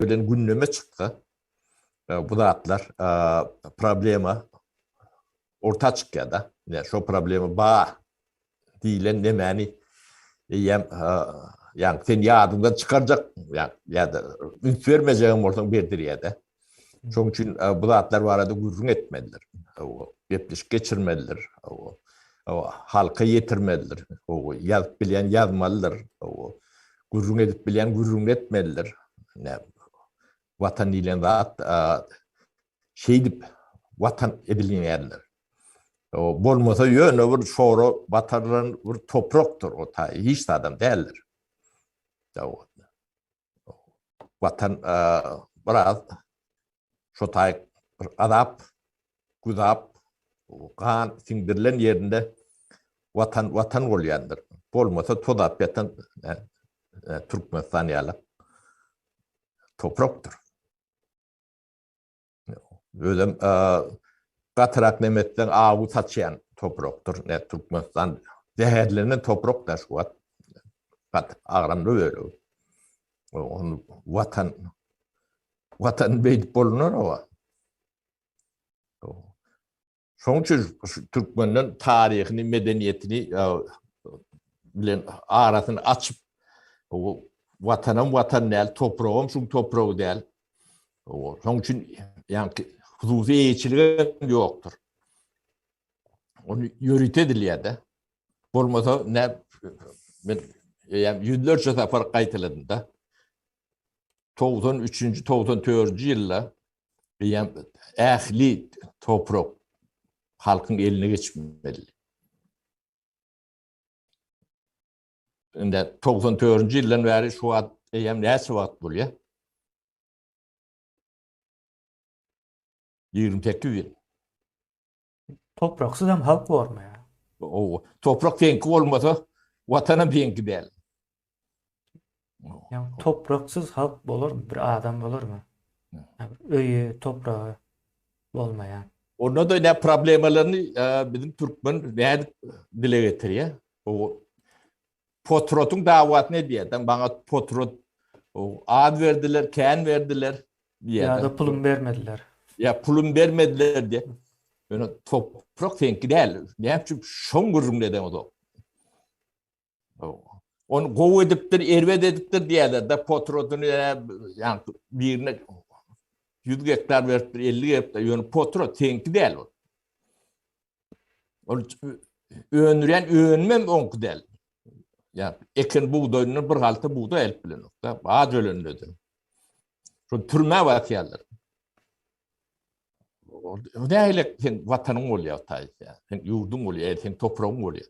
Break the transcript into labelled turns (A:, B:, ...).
A: bilen gündeme çyksa, bu zatlar problema orta çykýar-da. Ýa şo problema bar diýlen nemäni eýýäm ýa sen ýadyňdan çykarjak ýa ýa-da üns bermejegem bolsaň berdirýär-de. Şoň üçin bu zatlar barada gürrüň etmelidir. Gepleşik geçirmelidir. Halka ýetirmelidir. Ýazyp bilýän ýazmalydyr. Gürrüň edip bilýän gürrüň etmelidir. Watan diýlen zat şeýdip watan edilýänler. Bolmasa ýöne bir şora batarylan bir toprakdyr o ta hiç zadam däldir. Watan biraz şo taý gazap, güzap, gan siňdirilen ýerinde Watan Watan bolýandyr. Bolmasa tozap ýatan Türkmenistan ýaly toprakdyr. Özem gatyrak nem etseň awy saçýan toprakdyr. Ne Türkmenistan zäherlenen toprak da şu wagt. Gat agramly bölegi. Onu watan Watan beýdip bolunur o. Şoň üçin türkmenden taryhyny, medeniýetini bilen arasyny açyp, watanam watan däl, topragam şu topragy däl. Şoň üçin ýa-da hususy eýeçilik ýokdur. Onu ýörite edilýär-de. Bolmasa, ne, men ýüzlerçe sapar gaýtaladym-da. togsan üçünji, togsan dördünji ýylda eýýäm ähli toprak halkyň eline geçmeli. Indi togsan dördünji ýyldan bäri şu wagt eýýäm näçe wagt bolýar? Ýigrimi sekiz ýyl. Topraksyzam halk bormy ya? Ow, toprak seňki bolmasa, watanam seňki däl. Ýa topraksyz halk bolarmy? Bir adam bolarmy? Öýi, topragy bolmaýan. Onda da ne problemalaryny e, bizim Türkmen nädip dile getirýär? O Potrotyň dawasyny edýärdiň, maňa potrot az berdiler, kän berdiler diýýärdi. Ýa-da pulum bermediler. Ýa pulum bermediler diýip. Ýöne toprak seňki däl. Näme üçin şoň gürrüňini edeňiz o? Onu gowy edipdir, erbet edipdir diýýärler. Da potrotyny ýa birine 100 gektar beripdir, 50 beripdir. Ýöne potrot seňki däl ol. Ol öndürýän önmem oňky däl. Ýa eken bugdaýyndan bir halta bugdaý alyp bilenok da, az ölendedi. Şu türmä batýarlar. O näle sen watanyň bolýar taýsa, sen ýurduň bolýar, sen topragyň bolýar.